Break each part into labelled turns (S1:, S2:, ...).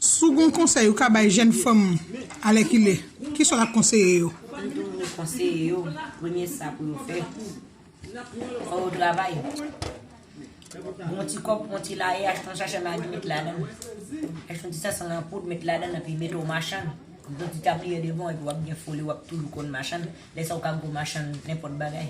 S1: Si w gen yon konsèy ou ka bay jèn fanm alèkile, ki sa w t ap konseye yo? Mwen toujou konseye
S2: yo, premye sa pou yo fè, fò yo travay. Yon ti kòb pou yon ti laye, achte yon sachè magi met ladan l. Achte yon ti sensan an poud met ladan l epi mete w machann. Mete yon ti tabliye devan w epi w ap gen foli w ap toujou konn machann. Lè sa a ou ka gwo machann nenpòt bagay.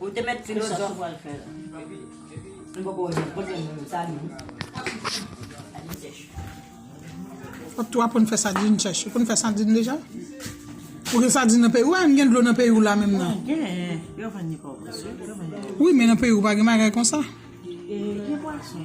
S2: Ou te met
S1: filozof. Fok tou aprann fè sadin chèch. Ou konn fè sadin deja? Ou gen sadin nan peyi ou? Ou pa menm gen dlo nan peyi ou la menm nan? Gen, yo vann li pa ou prèske. Yo vann li. Wi, men nan peyi ou pa gen bagay konsa. Gen pwason.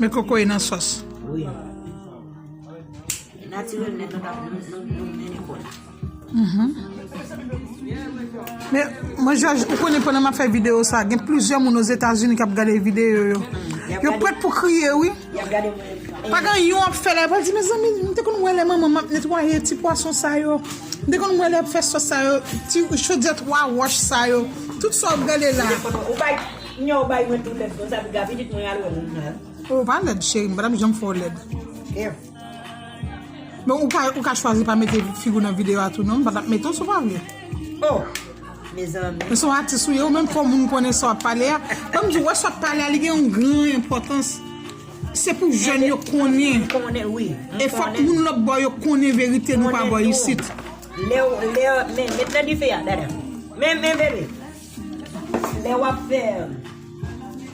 S2: Men
S1: koko e nan sòs. Mwen jòj ou konnen pwè nan ma fè video sa. Gen plizyè moun o Zeta Zuni kap gade video yo. Yo pwèt pou kriye wi. Yap gade mwen epran. Pagan yon ap fè la epran di mezanmi m te konn wè lè manman m ap netwaye ti pwason sa yo. M te konn wè lè yap fè sòs sa yo. Ti chodyè 3 wòch sa yo. Tout sa wap gade la. Ou bay nè ou bay mwen tou lèd konsa pou ga pitit mwen al wè moun nan. Ou pa lèd cheri m patap janm fè w lèd. Bon ou ka chwazi pa mete figou nan video a tou non m patap mete w si w pa vle.
S2: mezanmi. Ou son atis ou ye ou
S1: menm fò moun konnen sa wap pale a banm diw wè sa wap pale a li gen yon gran enpòtans se pou jèn yo konnen e fòk
S2: moun
S1: lòtbò yo konnen verite nou pa bò isit. Lèw lèw
S2: men met nan dife a dada men men bebe lè wap fè.